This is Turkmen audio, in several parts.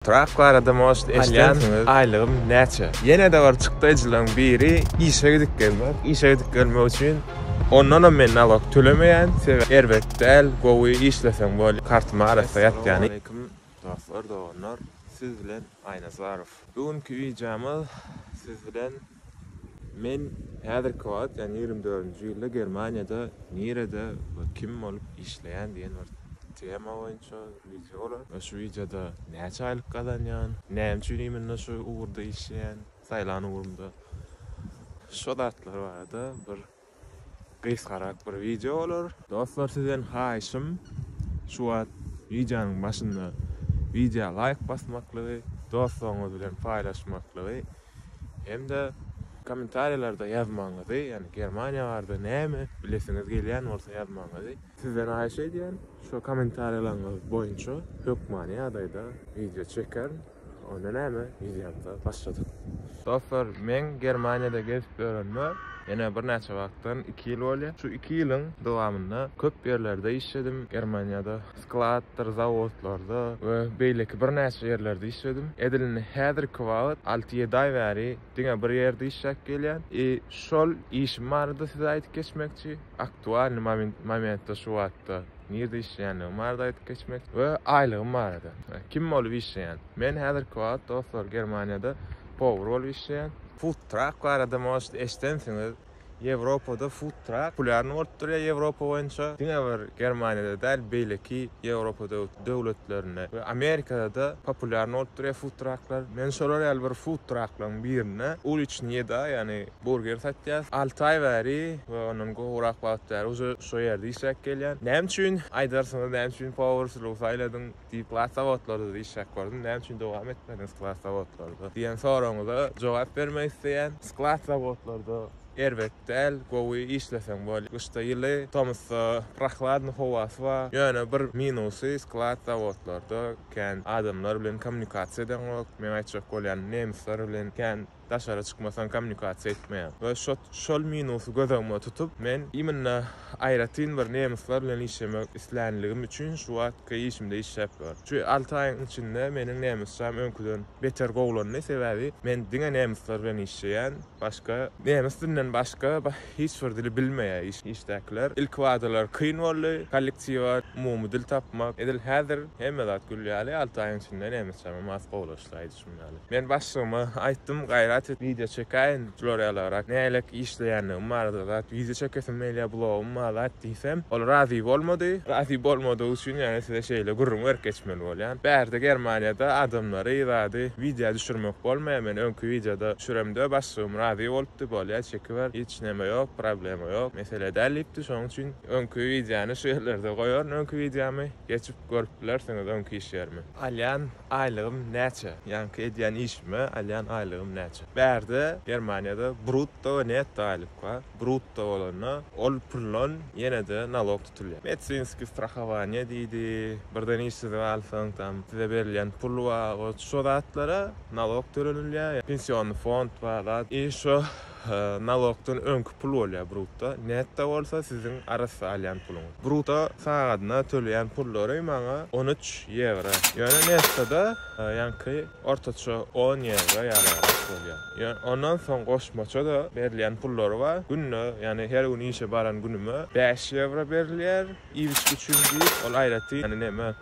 Trap barada most eşidensiňiz. Aýlygym näçe? Ýene-de bir çykdaýjylaryň biri işe gidip gelmek. Işe gidip gelmek üçin ondanam men nalog tölemeýän. Sebäbi erbet däl, gowy işleseň bolýar. Kartyma arassa ýatýan. Assalamualeýkum dostlar, doganlar. Siz bilen Aýnazarow. Bu günki wideomyz siz bilen Men häzirki wagt, ýagny ýigrimi dördünji ýylda Germaniýada nirede we kim bolup işleýän diýen bir tema boýunça wideo bolar. Ýa şu wideoda näçe aýlyk gazanýan, näme üçin imенно şu ugurda işleýän, saýlan ugrumda. Şo zatlar barada bir gysgarak bir wideo bolar. Dostlar sizden haýyşym şu wagt wideonyň başynda wideo laýk basmaklygy, dostlaryňyz bilen paýlaşmaklygy hem-de kommentariýalarda ýazmagyňyzy, ýagny Germaniýa barada näme bilesiňiz gelýän bolsa ýazmagyňyzy sizden haýyş edýän. Şo kommentariýalaryňyz boýunça hökmany ýagdaýda wideo çekerin. Onda näme? Ýüzýände başladyk. Dostlar, men Germaniýada gezip ýörenime ýene birnäçe wagtdan iki ýyl bolýar. Şu iki ýylyň dowamynda köp ýerlerde işledim. Germaniýada skladdyr, zawodlarda we beýleki birnäçe ýerlerde işledim. Edil indi häzirki wagt alty-ýedi aý bäri diňe bir ýerde işläp gelýän. I şol işim barada size aýdyp geçmekçi. Aktualnyý momentde şu wagtda. Nirde işleýändigimi barada aýdyp geçmek we aýlygym barada. Kim bolup işleýän? Men häzirki wagt dostlar Germaniýada powar bolup işleýän. Food truck barada možda eşidensiňiz. Ýewropada food truck populýarny bolup durýar Ýewropa boýunça. Diňe bir Germaniýada däl, beýleki Ýewropa döwletlerinde we Amerikada-da populýarny bolup durýar food trucklar. Men şolar ýaly bir food trucklaryň birinde uliçnyýe-da, ýagny Burger satýas. Alty aý bäri we ondan gowrak wagt bäri uje şo ýerde işläp gelýän. Näme üçin, aýdarsyňyz, näme üçin powurçylygy saýladyň? Diýip, klas zawodlardyda işläp gördüm. Näme üçin dowam etmediň klas zawodlarda? diýen soragyňyza jogap bermek isleýän. Klas zawodlarda erbet däl, gowy işleseň bol. Gyşda ýyly, tomusda prohladny howasy bar. Ýöne bir minusy, klas zawodlarda kän adamlar bilen kommunikasiýa edeňok. Meň aýtjak bolýanym, nemisler bilen kän daşara çykmasaň kommunikasiýa etmeýär we şol minusy göz öňüme tutup men imенно aýratyn bir nemyslar bilen işlemek islänligim üçin şu wagtky işimde işläp ýörün. Şu alty aýyň içinde meniň nemysçam öňküden beter gowulandy, sebäbi men diňe nemyslar bilen işleýän, başga nemes dilinden başga hiç bir dili bilmeýär işdäkiler. Ilki badalar kyn boldy, kollektiwa umumy dil tapmak, edil häzir hemme zat gül ýaly, alty aýyň içinde nemysçam hem has gowulaşdy. Men başlygyma aýtdym, gaýrat et, wideo çekäýin, florýalarak nälelik işleýändigim barada zat, wideo çekesim gelýär, blogum bar zat diýsem, ol razy bolmady. Razy bolmadygy üçin ýöne size şeýle gürrüň berip geçmeli bolýan. Bärde Germaniýada adamlary, zady wideo düşürmek bolmaýar, men öňki wideoda düşüremde başlygym razy bolupdy, bolýar çekiber, hiç näme ýok, problema ýok, mesele däl diýipdi, şonuň üçin öňki wideony şu ýerlerde goýaryn, öňki wideomy geçip görüp bilersiňiz, öňki iş ýerimi. Alýan, Aýlygym näçe? Ýaňky edýän işime alýan aýlygym näçe? Bärde, Germaniýada brutto we netto aýlyk bar. Brutto bolanda, ol puldan ýene-de nalog tutulýar. Medsinskiý strahowaniýa diýdi. Birden işsiz galsaň, tam size berilýän pul bar. Şo zatlara nalog tölenilýär. Pensiony fond bar zat. I şo Nalogdan öňki pul bolýar brutto, netto bolsa siziň arassa alýan puluňyz. Brutto sagadyna töleýän pullary maňa on üç ýewro. Ýöne nettoda ýaňky ortaça on ýewro ýalyrak bolýar. Ýöne ondan soň goşmaça-da berilýän pullary bar. Günde, ýagny her gün işe baran günüme bäş ýewro berilýär, iýip-içgi üçin diýip, ol aýratyn, ýagny näme,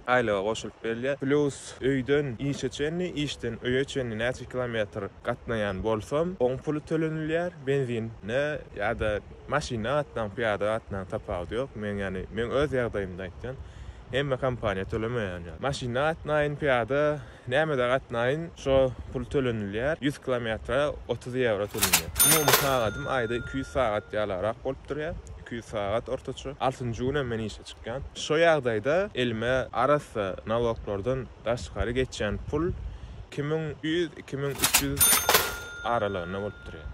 Aýlyga goşulyp berilýär. Plus öýden işe çenli, işden öýe çenli näçe kilometr gatnaýan bolsam, oň puly tölenilýär. Benzine ýa-da maşynda gatnaň, pyýada gatnaň tapawudy ýok. Men ýagny men öz ýagdaýymda aýtýan. Hemme kompaniýa tölemeýän ýaly. Maşynda gatnaýyn, pyýada Nämede gatnaýyn şo pul tölenilýär ýüz kilometre otuz ýewro tölenýär umumy sagadym aýda iki ýüz sagat ýalarak bolup durýar iki ýüz sagat ortaça altynjy günem men işe çykýan şo ýagdaýda elime arassa naloglardan daşgary geçýän pul iki müň ýüz iki müň üç ýüz aralygynda bolup durýar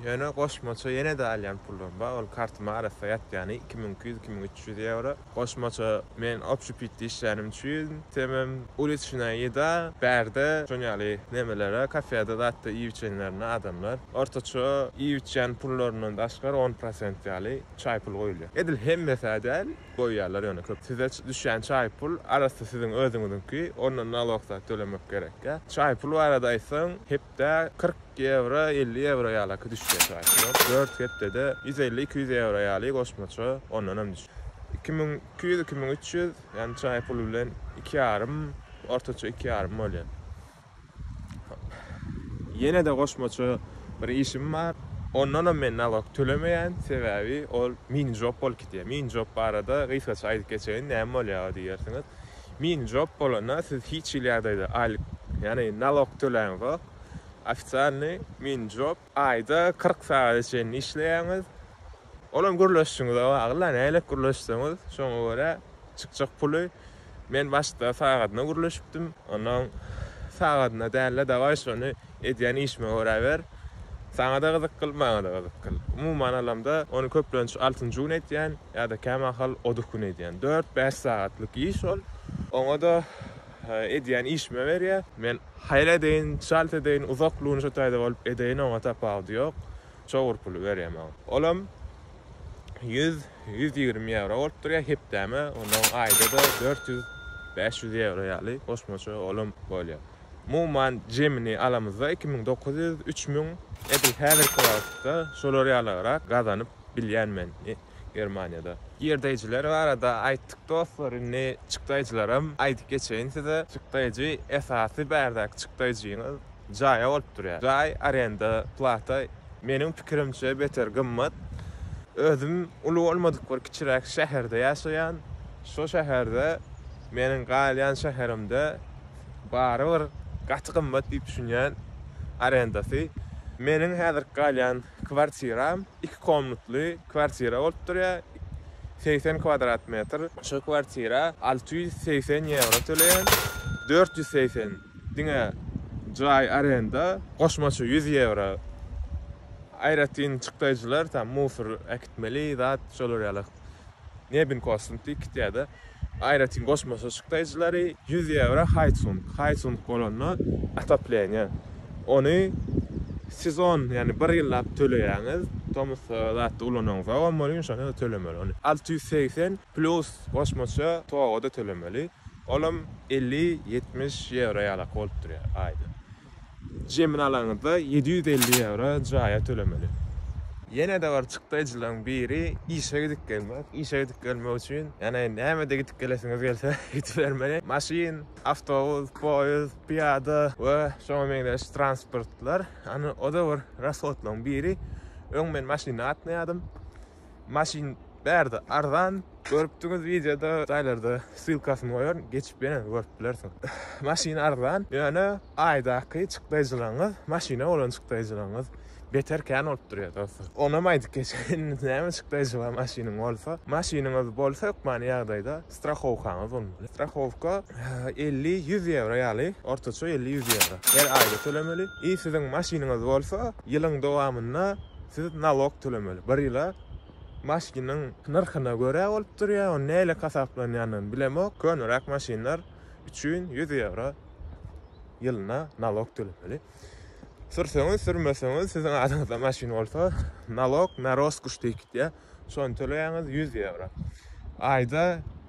ýöne goşmaça ýenede alýan pullarym bar ol kartyma arassa ýatýany iki müň iki ýüz iki müň üç ýüz ýewro. Goşmaça men opşipitde işlänim üçin temem uliçnaýa ýeda, bärde şon ýaly nemelere, kafede zat-da iýip-içenlerine adamlar ortaça iýip-içýän pullaryndan daşgary on prosent ýaly çaý pul goýulýar. Edil hemmesi-ä däl, goýýarlar ýöne köp. Size düşýän çaý pul arassa siziň özüňiziňki, ondan nalog zat tölemek gerek ýa. Çaý pul barada aýtsaň, hep Dä kyrk ýewro, elli ýewro ýalaky düşýär çaýkylap. Dört hepdede ýüz elli, iki ýüz ýewro ýaly goşmaça ondanam düş. Iki müň iki ýüz, iki müň üç ýüz, ýagny çaý puly bilen iki ýarym, ortaça iki ýarym bolýar. Ýene-de goşmaça bir işim bar. Ondanam men nalog tölemeýän, sebäbi ol mini-job bolup gidýär. Mini-job barada gysgaça aýdyp geçeýin, näme bolýar o diýersiňiz. Mini job bolanda siz hiç hili ýagdaýda aýlyk, ýagny nalok töläňzok. Ofitsialnyý mini job aýda kyrk sagada çenli işleýäňiz. Ol hem gürleşijiňize bagly, nälet gürleşseňiz şoňa görä çykjak puly. Men başda sagadyna gürleşipdim, onnoň sagadyna dälde dawaý şony. Edýän işime göräber. Saňa-da gyzykgyl, maňa-da gyzykgyl. Umuman alamda, ony köplenç altynjy gün edýän ýa-da kämahal oduk gün edýän. Dört-bäş sagatlyk iş ol. Oňa-da edýän işime berýä. Men haýal edeýin, çalt edeýin, uzak lunža taýda bolup edeýin, oňa tapawudy ýok. Çowur puly berýä maňa. Olam ýüz, ýüz ýigrimi ýewro bolup durýa hepdäme, onnoň aýda-da dört ýüz, bäş ýüz ýewro ýaly goşmaça olam bolýa. Umuman jemini alamyzda iki müň dokuz ýüz, üç müň. Edil häzirki wagtda şolar ýalagrak gazanyp bilýän men Germaniýada. Girdeýjiler barada aýtdyk dostlar indi çykdaýjylaram aýdyp geçeýin size. Çykdaýjy esasy bärdäki çykdaýjyňyz jaýa bolup durýar. Jaý arenda plata meniň pikirimçe beter gymmat. Özüm uly bolmadyk bir kiçiräk şäherde ýaşaýan. Şo şäherde meniň galýan şäherimde. barybir gaty gymmat diýip düşünýän arendasy. Meniň häzirki galýan kwartiram iki komnatly kwartira bolup durýar, segsen kwadrat metr. Şu kwartira alty ýüz segsen ýewro töleýän, dört ýüz segsen diňe jaý arenda, goşmaça ýüz ýewro aýratyn çykdaýjylar, tam musor äkitmeli zat, şolar ýaly Nebin Kostum Tikityada aýratyn goşma çyşykdaýjylary ýüz ýewro haýtsung, haýtsung bolanda otopleniýe, ony sezon, ýagny bir ýyllap töleýäňiz, tomusda zatda ulanaňyzam bolmaly, ýumşaňyzam tölemeli ony. Alty ýüz segsen plus goşmaça toga-da tölemeli, olam elli, ýetmiş ýewro ýalak bolup durýar aýda. Jemini alaňyzda ýedi ýüz elli ýewro jaýa tölemeli. Ýene-de bir çykdaýjylaryň biri işe gidip gelmek. Işe gidip gelmek üçin, ýagny nämede gidip gelesiňiz gelse aýdybermeli. Maşyn, awtobus, poýezd, pyýada we şoňa meňzeş transportlar. Ýagny o-da bir rashodlaryň biri. Öň men maşynda gatnaýardym. maşyn bärde arzan görüpdiňiz wideoda jaýlarda ssylkasyny goýaryn geçip ýene görüp bilersiň maşyn arzan ýöne aýdaky çykdaýjylaryňyz maşyna bolan çykdaýjylaryňyz beter kän bolup durýar dostlar onam aýdyp geçeýin näme çykdaýjy bar maşynyň bolsa maşynyňyz bolsa hökmany ýagdaýda strahowkaňyz bolmaly strahowka elli ýüz ýewro ýaly ortaça elli ýüz ýewro her aýda tölemeli i siziň maşynyňyz bolsa ýylyň dowamynda Siz nalog tölemeli. Bir ýyla maşynyň nyrhyna görä bolup durýar, ony nähili hasaplanýanyny bilemok. Köneräk maşynlar üçin ýüz ýewro ýylyna nalog tölemeli. Sürseňiz, sürmeseňiz, siziň adyňyzda maşyn bolsa, nalog na roskoş diýip gitýär. Şony töleýäňiz ýüz ýewro. Aýda.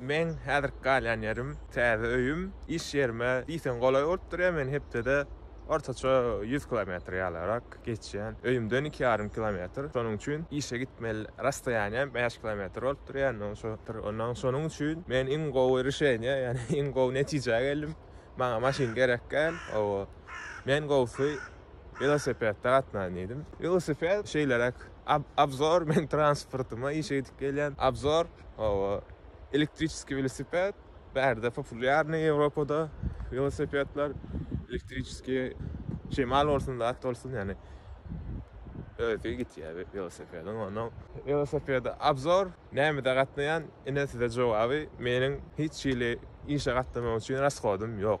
Meň häzirki galýan ýerim, täze öýüm, iş ýerime diýseň golaý bolup durýar, men hepdede ortaça ýüz kilometr ýalyrak geçýän, öýümden iki ýarym kilometr, şonuň üçin işe gitmeli rastoýaniýam bäş kilometr bolup durýar, indi oňa şo, ondan şonuň üçin men iň gowy rişeniýä, ýagny iň gowy netijä geldim, maňa maşyn gerekgäl, hawa, men gowusy welosipedde gatnan diýdim, welosiped şeýleräk. Obzor, men transportyma işe gidip gelýän. Obzor, hawa, elektriçeskiý welosiped, bärde populýarny Ýewropada welosipedler, elektriçeskiý, şemal bolsun, zat bolsun, ýani özi gitýär welosipediň, onuň welosipedi Obzor, nämede gatnaýan, ine size jogaby, meniň hiç hili işe gatnamak üçin rashodym ýok.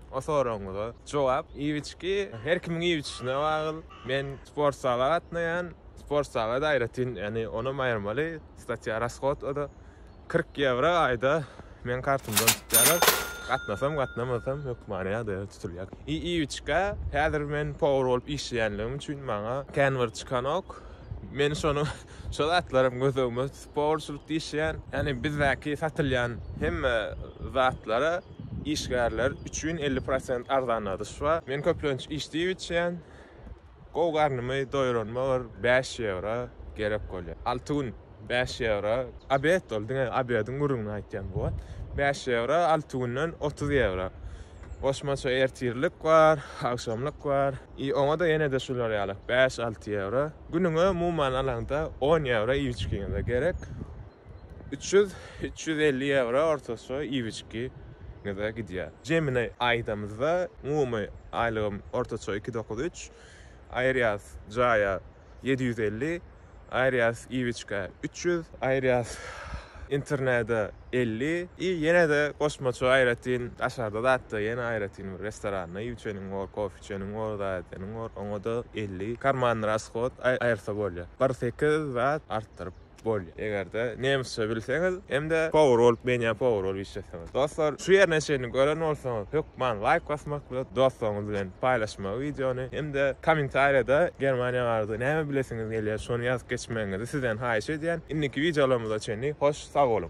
O soragyňyza jogap, iýip-içgi her kimiň iýip-içişine bagyl. Men sport zala gatnaýan. Sport zala-da aýratyn, ýagny onam aýyrmaly, statýa rashod o-da. Kyrk ýewro aýda meň kartymdan tutýarlar. Gatnasam, gatnamasam hökmany ýagdaýda tutulýar. I iýip-içgä häzir men powar bolup işleýänligim üçin maňa kän bir çykanok. Men şony, şo zatlaram göz öňüme Powerçilikde işleýän, ýagny bizdäki satylýan hemme zatlara işgärler üçin elli prosent arzanladyş bar. Men köplenç iş diýip içýän. Gowy garnymy doýuranyma bir bäş ýewro gerek bolýar. Alty gün bäş ýewro. Obed ol diňe obediň gürrüňini aýtýan bu wagt. Bäş ýewro, alty günden otuz ýewro. Goşmaça ertirlik bar, agşamlyk bar. I oňa-da ýene-de şular ýaly bäş-alty ýewro. Günüňe umuman alaňda on ýewro iýip içgiňize gerek. Üç ýüz, üç ýüz elli ýewro ortaça iýip içgiňize gidýär. Jemini aýdamyzda, umumy aýlygym ortaça iki dokuz üç, aýyrýas jaýa ýedi ýüz elli, aýyrýas iýip-içgä üç ýüz, aýyrýas internede elli i ýene-de goşmaça aýratyn daşarda zatda ýene aýratyn bir restoranda iýip-içeniň bor, kofe Akçeniň bor, zadeniň bor, oňa-da elli karmanny rasshod aýyrsa bolýar. Bir sekiz zat artdyryp bolýar. Eger-de nemisçe bilseňiz hem-de powar bolup, menýa powar bolup işleseňiz. Dostlar, şu ýerine çenli gören bolsaňyz, hökman laýk basmak bilen, dostlaryňyz bilen paýlaşmagy wideony hem-de kommentariýada Germaniýa barada näme bilesiňiz gelýär, şony ýazyp geçmegiňizi sizden haýyş edýän. Indiki wideolarymyza çenli hoş sag boluň!